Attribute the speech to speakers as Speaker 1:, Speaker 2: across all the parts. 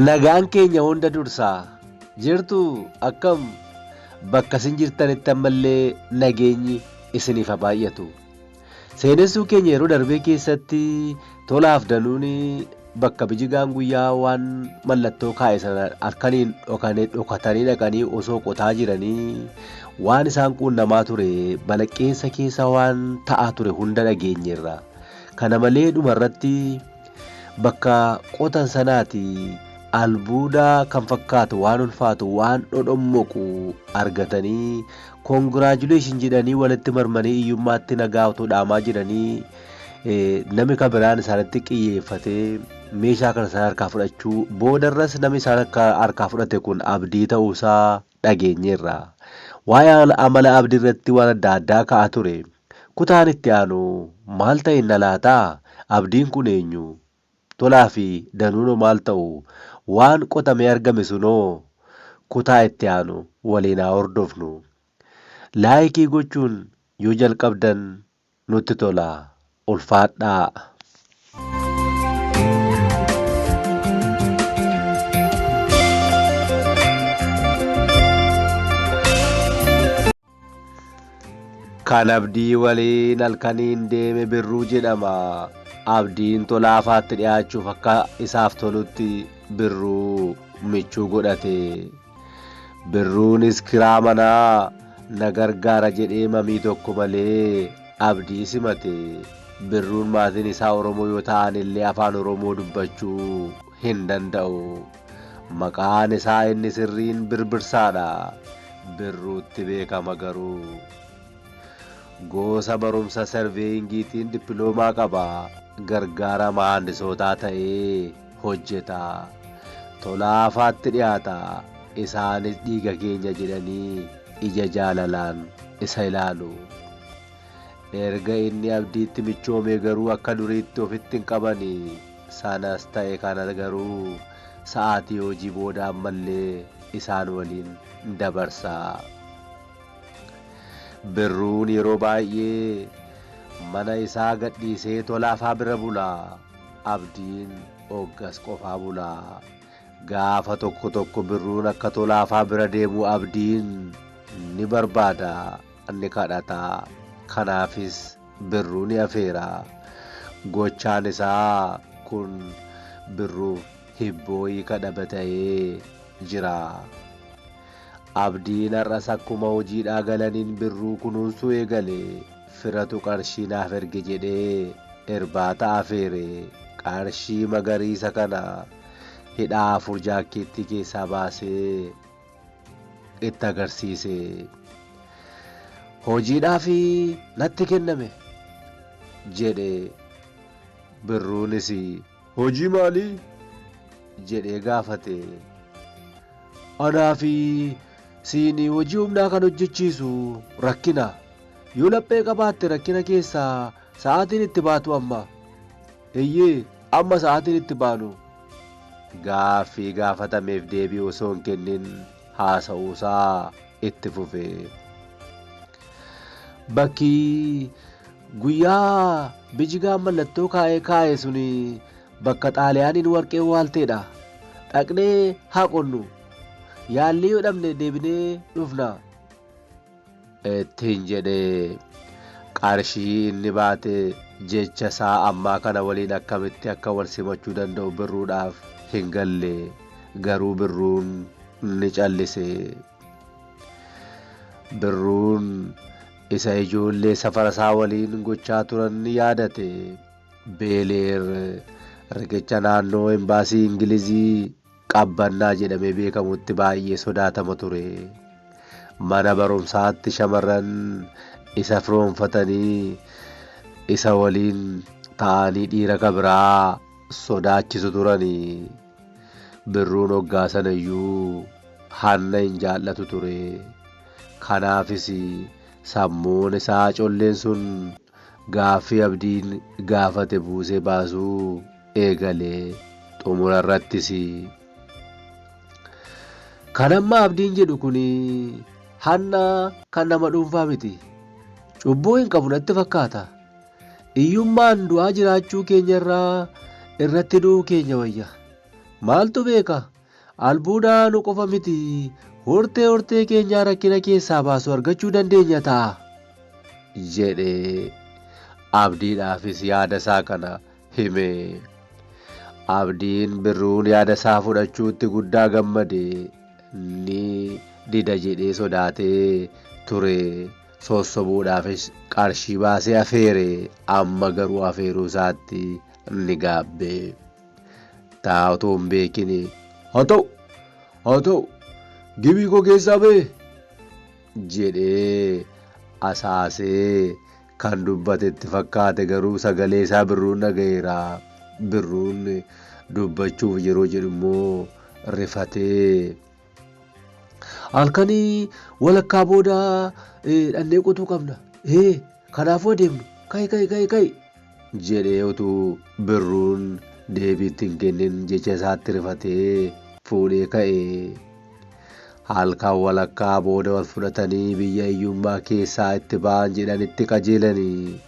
Speaker 1: Nagaan keenya hunda dursaa jirtu akkam bakka isin jirtanitti ammallee nageenyi isiniif haa baay'atu. Seenessuu keenya yeroo darbee keessatti tola afdaluun bakka bijigaan guyyaa waan mallattoo kaa'e sana halkaniin dhokane dhokatanii dhaqanii osoo qotaa jiranii waan isaan quunnamaa ture balaqqeessa keessa waan ta'aa ture hunda dhageenyeerra. Kana malee dhuma irratti bakka qotan sanaati albuudaa kan fakkaatu waan ulfaatu waan dhodhommoqu argatanii Congratulations jedhanii walitti marmanii iyyummaatti nagaa otoo dhaamaa jiranii nami kan biraan isaanitti qiyyeeffatee meeshaa kana isaan harkaa fudhachuu boodarras nami isaan akka harkaa fudhate kun abdii ta'uusaa dhageenyeerra. Waa'ee amala abdii irratti waan adda addaa ka'a ture. Kutaan itti aanu maal ta'inna laata? Abdiin kun eenyu? Tolaa fi Danuuno maal ta'u? Waan qotamee argame sunoo? Kutaa itti aanu waliin haa hordofnu. Laayikii gochuun yoo jalqabdan nutti tola. Ulfaadhaa! Kan Abdii waliin halkaniin deeme Birruu jedhama. Abdiin Tolaafaatti dhiyaachuuf akka isaaf tolutti Birruu michuu godhate. Birruunis kiraa manaa na gargaara jedhee mamii tokko malee Abdii simate. Birruun maatiin isaa Oromoo yoo ta'an illee afaan Oromoo dubbachuu hin danda'u. Maqaan isaa inni sirriin Birbirsaadha. Birruutti beekama garuu. Goosa barumsa serveeyingiitiin dippiloomaa qaba. Gargaara mahaandisootaa ta'ee hojjeta. Tolaafaatti dhiyaata. Isaanis dhiiga keenya jedhanii ija jaalalaan isa ilaalu. Erga inni Abdiitti michoomee garuu akka duriitti ofitti hin qabani. Sanas ta'e kana garuu sa'aatii hojii booda ammallee isaan waliin dabarsa. Birruun yeroo baay'ee mana isaa gadhiisee Tolaafaa bira bula. Abdiin oggas qofaa bula. Gaafa tokko tokko Birruun akka Tolaafaa bira deemu Abdiin ni barbaada, ni kadhata. Kanaafis Birruu ni afeera. Gochaan isaa kun Birruuf hibboo hiika dhaba ta'ee jira. Abdiin har'as akkuma hojiidhaa galaniin Birruu kunuunsuu eegale. Firatu qarshii naaf erge jedhee irbaata afeere. Qarshii magariisa kana hidhaa afur jaakkeettii keessaa baasee itti agarsiise. Hojiidhaaf natti kenname jedhe birruunis. Hojii maalii? jedhee gaafate. Anaa fi siin hojii humnaa kan hojjechiisu rakkina. Yoo laphee qabaatte rakkina keessaa sa'aatiin itti baatu amma. Eyyee, amma sa'aatiin itti baanu. Gaaffii gaafatameef deebii osoo hin kennin haasa'uusaa itti fufe. Bakki guyyaa bijigaan mallattoo kaa'ee kaa'e sun bakka xaaliyaaniin warqee waalteedha. Dhaqnee haa qonnu. Yaallee yoo dhabne deebinee dhufna. ittiin jedhe. Qarshii inni baate jecha isaa ammaa kana waliin akkamitti akka wal simachuu danda'u Birruudhaaf hin galle. Garuu Birruun ni callise. Birruun isa ijoollee safara isaa waliin gochaa turan ni yaadate. Beeleer riqicha naannoo Embaasii Ingilizii Qabbannaa jedhamee beekamutti baay'ee sodaatama ture. Mana barumsaatti shamarran isa firoomfatanii isa waliin ta'anii dhiira ka biraa sodaachisu turani. Birruun hoggaa sana iyyuu hanna hin jaallatu ture. Kanaafis sammuun isaa colleen sun Gaaffii Abdiin gaafate buusee baasuu eegale. Xumura irrattis. Kan amma Abdiin jedhu kun hanna kan nama dhuunfaa miti. Cubbuu hin qabu natti fakkaata. Iyyummaan du'aa jiraachuu keenya irraa irratti du'uu keenya wayya. Maaltu beeka Albuuda haaluu qofa miti, hortee hortee keenyaa rakkina keessaa baasu argachuu dandeenya ta'a. jedhe. Abdiidhaafis yaada isaa kana hime. Abdiin Birruun yaada isaa fudhachuutti guddaa gammade. Ni dida jedhee sodaatee ture. Sossobuudhaafis qarshii baasee afeere. Amma garuu afeeruu isaatti ni gaabbe. Taa otoo hin beekini. Haa ta'u! Haa ta'u! Gibii koo keessaa ba'e! jedhee asaasee kan dubbate itti fakkaate garuu sagalee isaa Birruun dhaga'eera. Birruun dubbachuuf yeroo jedhu immoo rifatee. halkanii walakkaa booda eh, dhannee qotuu qabna ee kanaafuu adeemnu kai kai kai kai jedhee utuu birruun deebiitti hin kennin jecha isaatti rifatee fuudhee ka'e. Halkan walakkaa booda wal fudhatanii biyya hiyyummaa keessaa itti ba'an jedhanitti qajeelanii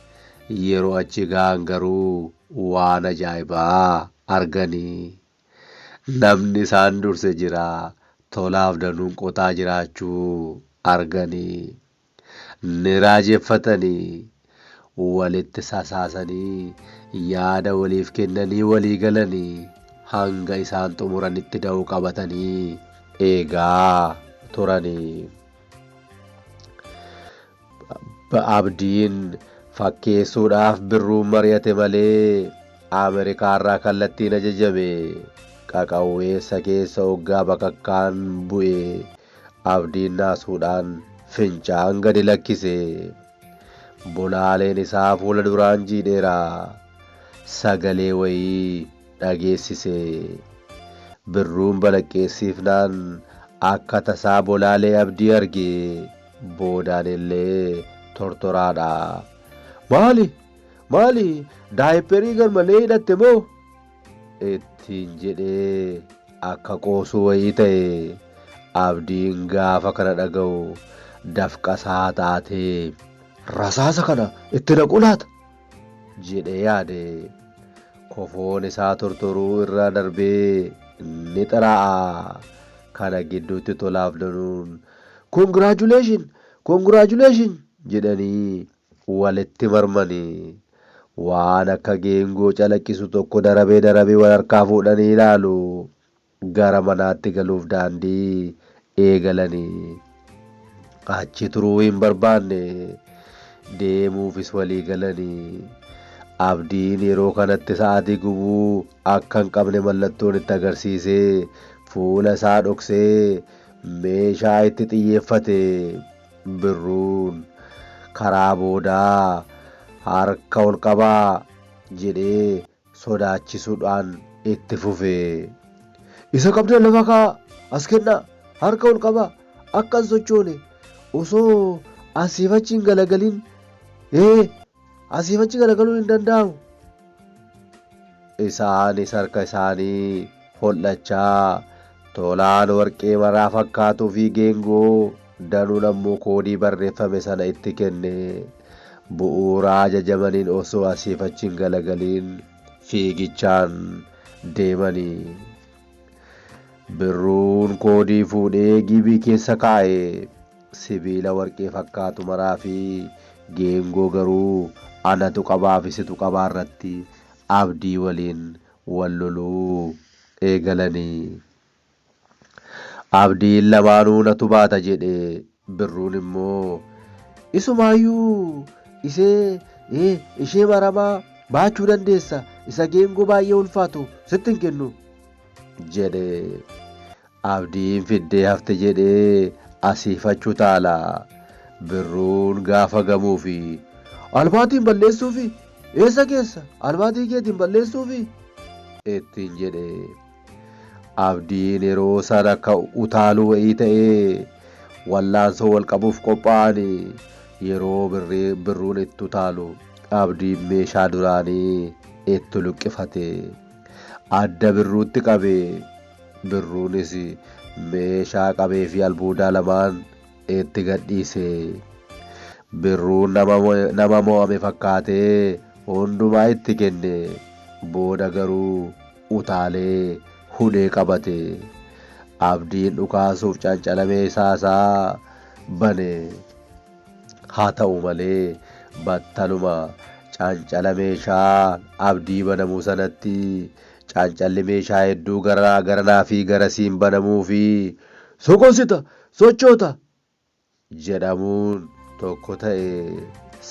Speaker 1: yeroo achi ga'an garuu waan ajaa'ibaa arganii. Namni isaan durse jira, tolaaf danuun qotaa jiraachuu arganii, ni raajeffatanii, walitti sasaasanii, yaada waliif kennanii walii galanii, hanga isaan xumuranitti da'oo qabatanii eegaa turanii. Abdiin fakkeessuudhaaf Birruun mari'ate malee Amerikaarraa kallattiin ajajame. Qaqawweessa keessa oggaa bakakkaan bu'e Abdiin naasuudhaan fincaan gadi lakkise. Bolaaleen isaa fuula duraan jiidheera. Sagalee wayii dhageessise. Birruun balaqqeessiifnaan akka tasaa bolaalee Abdii arge. boodaan illee tortoraadha. Maali? Maali? Daayipperii garmalee hidhatte moo? ittiin jedhee akka qoosuu wayii ta'e abdiin gaafa kana dhaga'u dafqasaa taatee rasaasa kana itti naquu laata jedhee yaade kofoon isaa tortoruu irra darbee ni xiraa'a kana gidduutti tolaaf danuun Congratulation! Congratulation! jedhanii walitti marmani. Waan akka geengoo calaqqisu tokko darabee darabee wal harkaa fuudhanii ilaalu. Gara manaatti galuuf daandii eegalani. Achi turuu hin barbaanne. Deemuufis walii galani. Abdiin yeroo kanatti sa'aatii gubuu akka hin qabne mallattoon itti agarsiisee fuula isaa dhoksee Meeshaa itti xiyyeeffate Birruun karaa boodaa harka ol qabaa jedhee sodaachisuudhaan itti fufe. Isa qabdan lafa kaa'aa, as kennaa, harka ol qabaa, akka hin sochoone, osoo asiif achi hin galagalin ee Asiif achi garagaluun hin danda'amu. Isaanis harka isaanii hol'achaa tolaan warqee maraa fakkaatuu fi geengoo danuun ammoo koodii barreeffame sana itti kenne. Bu'uuraa ajajamaniin osoo asiif achi hin galagaliin fiigichaan deemani. Birruun koodii fuudhee giibii keessa kaa'e. sibiila warqii fakkaatu maraa fi geengoo garuu anatu qabaa fi situ qabaa irratti Abdii waliin wal loluu eegalani. Abdiin lamaanuu natu baata jedhe Birruun immoo Isumaayyuu isee ee ishee maramaa baachuu dandeessa isa geengoo baay'ee ulfaatu sitti hin kennu jedhe. Abdiin fiddee hafte jedhee asii fach utaala. Birruun gaafa gamuufi. Albaatiin balleessuufi? Eessa geessa? Albaatii keetiin balleessuufi? ittiin jedhe. Abdiin yeroo san akka utaaluu wa'ii ta'ee wallaansoo wal qabuuf qophaa'ani. Yeroo birrii- birruun itti utaalu abdiin meeshaa duraanii itti luqqifate. Adda birruutti qabe. Birruunis meeshaa qabee fi albuudaa lamaan itti gadhiise. Birruun nama mo'ame fakkaatee hundumaa itti kenne. Booda garuu utaalee hudhee qabate. Abdiin dhukaasuuf cancala meeshaa isaa bane. Haa ta'u malee battaluma cancala meeshaa Abdii banamu sanatti Calcalli meeshaa hedduu garaa garanaa fi garasiin banamuu fi soqonsita, sochoota, jedhamuun tokko ta'e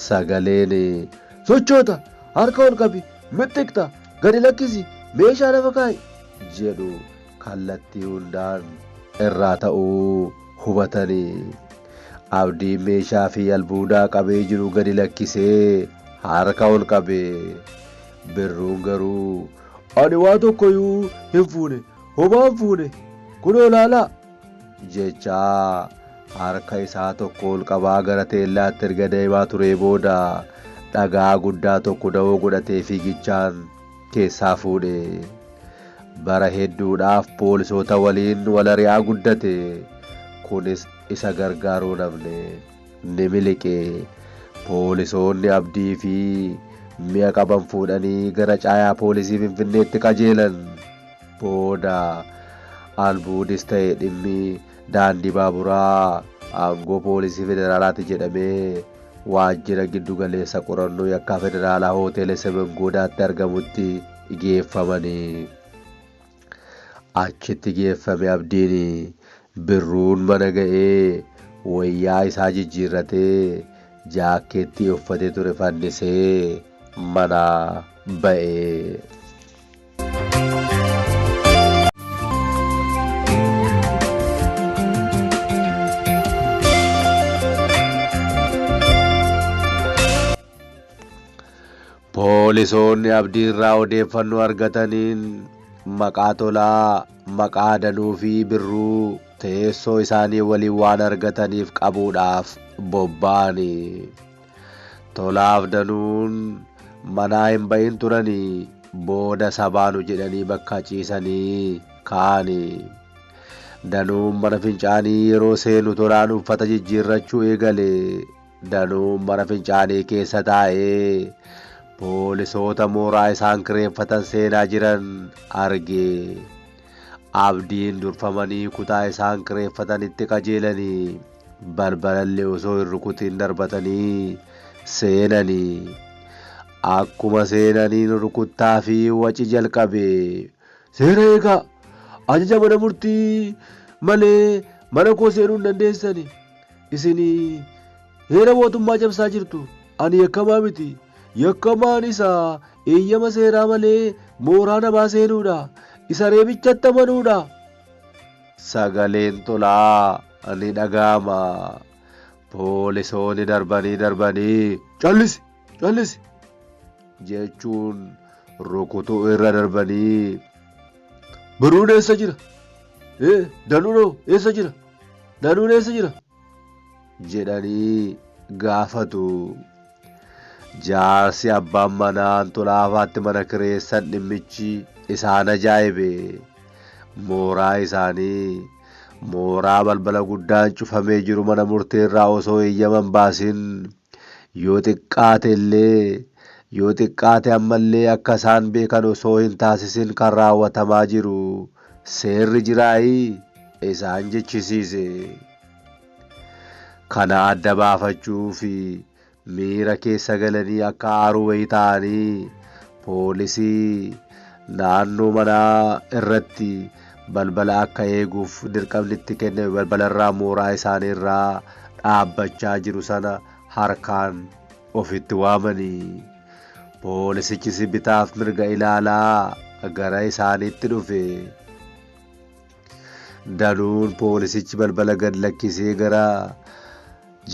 Speaker 1: sagaleen sochoota, harka ol qabi, mixxiqta, gadi lakkisi, meeshaa lafa kaa'i jedhu kallattii hundaan irraa ta'uu hubatani. Abdiin meeshaa fi albuudaa qabee jiru gadi lakkisee harka ol qabe. Birruun garuu, Ani waa tokkoyuu hin fuune, homaa hin fuune, kunoo laalaa! jechaa harka isaa tokko ol qabaa gara teellaatti erga deemaa turee booda dhagaa guddaa tokko dawoo godhatee fiigichaan keessaa fuudhe. Bara hedduudhaaf poolisoota waliin wal ari'aa guddate. Kunis isa gargaaruu hin hafne. ni miliqe. Poolisoonni Abdii fi mi'a qaban fuudhanii gara caayaa poolisii Finfinneetti qajeelan. Booda albuudis ta'e dhimmi daandii baaburaa aangoo poolisii federaalaati jedhamee waajjira giddu galeessa qorannoo yakkaa federaalaa hooteela Semen Goodaatti argamutti geeffamani. Achitti geeffame Abdiin. Birruun mana ga'ee wayyaa isaa jijjiirratee jaakkeettii uffatee ture fannisee manaa ba'e. Poolisoonni Abdiirraa odeeffannoo argataniin maqaa Tolaa, maqaa Adanuu fi Birruu teessoo isaanii waliin waan argataniif qabuudhaaf bobba'ani. Tolaaf Danuun manaa hin ba'in turani booda sabaanu jedhanii bakka ciisanii ka'ani. Danuun mana fincaanii yeroo seenu Tolaan uffata jijjiirrachuu eegale. Danuun mana fincaanii keessa taa'ee poolisoota mooraa isaan kireeffatan seenaa jiran arge. Abdiin durfamanii kutaa isaan kireeffatanitti qajeelanii balbalallee osoo hin rukutiin darbatanii seenanii. Akkuma seenaniin rukuttaa fi waci jalqabe. Seera eegaa! Ajaja mana murtii malee mana koo seenuu hin dandeessani. Isin heera mootummaa cabsaa jirtu. Ani yakkamaa miti. Yakkamaan isa eeyyama seeraa malee mooraa namaa seenuudha. Isa reebichatti amanuudha. Sagaleen tolaa ni dhaga'ama. Poolisoonni darbanii darbanii. Callisi! Callisi! jechuun rukutuu irra darbanii. Baruun eessa jira? Ee, danuunoo eessa jira? Danuun eessa jira? jedhanii gaafatu. Jaarsi abbaan manaa Antulaafaatti mana kireessan dhimmichi isaan ajaa'ibe. Mooraa isaanii mooraa balbala guddaan cufamee jiru mana murteerraa osoo eeyyaman baasin Yoo xiqqaate illee, yoo xiqqaate amma illee akka isaan beekan osoo hin taasisin kan raawwatamaa jiru seerri jiraayii? isaan jechisiise. Kana adda baafachuu fi miira keessa galanii akka aaruu wayii ta'anii poolisii naannoo manaa irratti balbala akka eeguuf dirqamni itti kenname balbalarraa mooraa isaanii irraa dhaabbachaa jiru sana harkaan ofitti waamanii poolisichis bitaaf mirga ilaalaa gara isaaniitti dhufe. Danuun poolisichi balbala gad lakkisee gara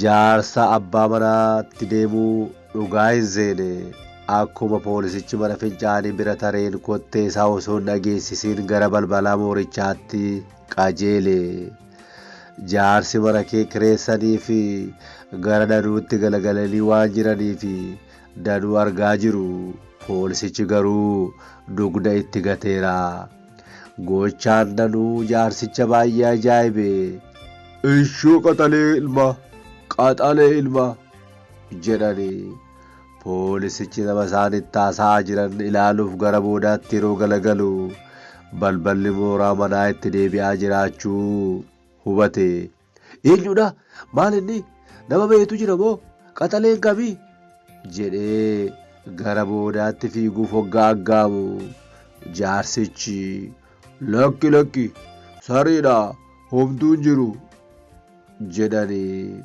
Speaker 1: jaarsa abbaa manaatti deemuu dhugaa hin seene. Akkuma poolisichi mana fincaanii bira tareen kottee isaa osoo hin dhageessisiin gara balbalaa moorichaatti qajeele. Jaarsi mana kee kireessanii fi gara Danuutti galagalanii waan jiranii fi Danuu argaa jiru. Poolisichi garuu dugda itti gateera. Gochaan danuu jaarsicha baay'ee ajaa'ibe. Ishoo qaxalee ilmaa! Qaxalee ilmaa! jedhanii poolisichi nama isaan itti haasa'aa jiran ilaaluuf gara boodaatti yeroo galagalu balballi mooraa manaa itti deebi'aa jiraachuu hubate. Eenyudha? Maal inni? Nama beektu jira moo? Qaxaleen kami? jedhee gara boodaatti fiiguuf hoggaa aggaamu jaarsichi lakki lakki sariidha homtuun jiru jedhanii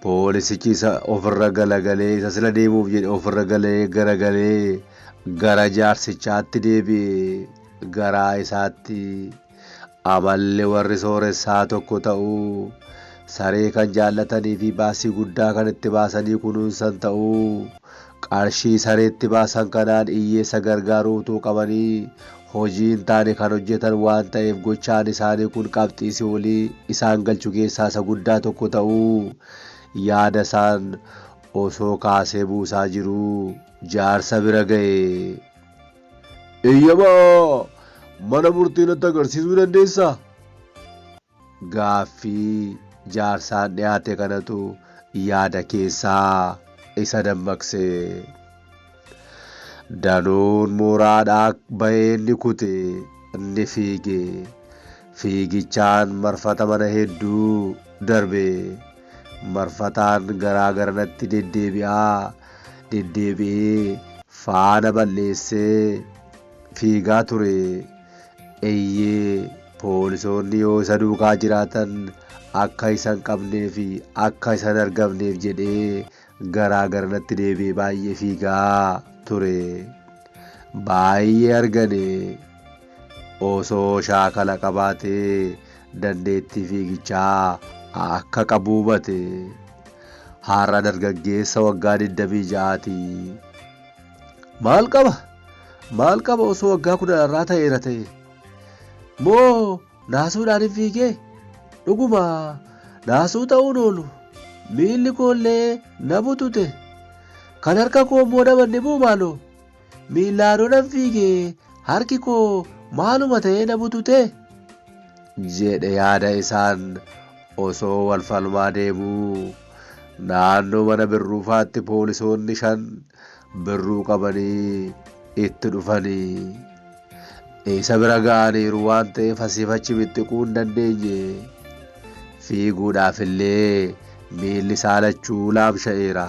Speaker 1: poolisichi isa ofirra galagalee isa sila deemuuf jedhe ofirra galee garagalee gara jaarsichaatti deebi'e garaa isaatti Amalli warri sooressaa tokko ta'uu, saree kan jaallatanii fi baasii guddaa kan itti baasanii kunuunsan ta'uu, qarshii sareetti baasan kanaan iyyeessa gargaaruu utuu qabanii hojii hin taane kan hojjetan waan ta'eef gochaan isaanii kun qabxii si'oolii isaan galchu keessaa isa guddaa tokko ta'uu yaada isaan osoo kaasee buusaa jiruu jaarsa bira ga'e. Eeyyama mana murtii natti agarsiisuu dandeessaa? Gaaffii jaarsaan dhiyaate kanatu yaada keessaa isa dammaqse. Danuun mooraadhaa ba'ee ni kute, ni fiige. Fiigichaan marfata mana hedduu darbe. marfataan garaa garanatti deddeebi'aa deddeebi'ee faana balleessee fiigaa ture. Eeyyee poolisoonni yoo isa duukaa jiraatan akka isa hin qabnee fi akka isa hin argamneef jedhee garaa gara natti deebi'e baay'ee fiigaa ture baay'ee argane osoo shaakala qabaate dandeettii fiigichaa akka qabu hubate har'a dargaggeessa waggaa 26ti maal qaba maal qaba osoo waggaa kudhan irraa ta'eera ta'e moo Naasuudhaan hin fiigee? Dhuguma naasuu ta'uun oolu. Miilli koollee na butute. Kan harka koo immoo na manne moo maaloo? Miillaa yoo nan fiige harki koo maaluma ta'ee na bututee? jedhe yaada isaan osoo wal falmaa deemuu. Naannoo mana birruufaatti poolisoonni shan birruu qabanii itti dhufanii. Isa bira ga'aniiru waan ta'eef asiif achi bittiquu hin dandeenye. Fiiguudhaaf illee miilli isaa lachuu laamsha'eera.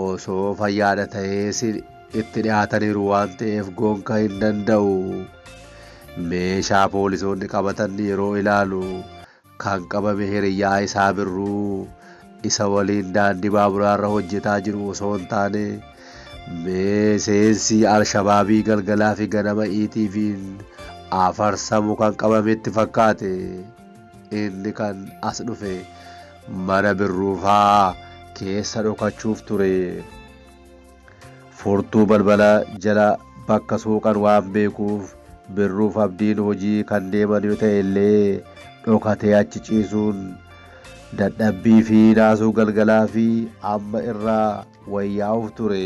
Speaker 1: Osoo fayyaadha ta'ees itti dhiyaataniiru waan ta'eef gonka hin danda'u. Meeshaa poolisoonni qabatan yeroo ilaalu Kan qabame hiriyyaa isaa Birruu isa waliin daandii baaburaarra hojjetaa jiru osoo hin taane miseensi Alshabaabii galgalaa fi ganama ETV'n afarsamu kan qabametti fakkaate. Inni kan as dhufe mana Birruufaa keessa dhokachuuf ture. Furtuu balbala jala bakka suuqan waan beekuuf Birruuf Abdiin hojii kan deeman yoo ta'e illee dhokatee achi ciisuun dadhabbii fi naasuu galgalaa fi amma irraa wayyaa'uuf ture.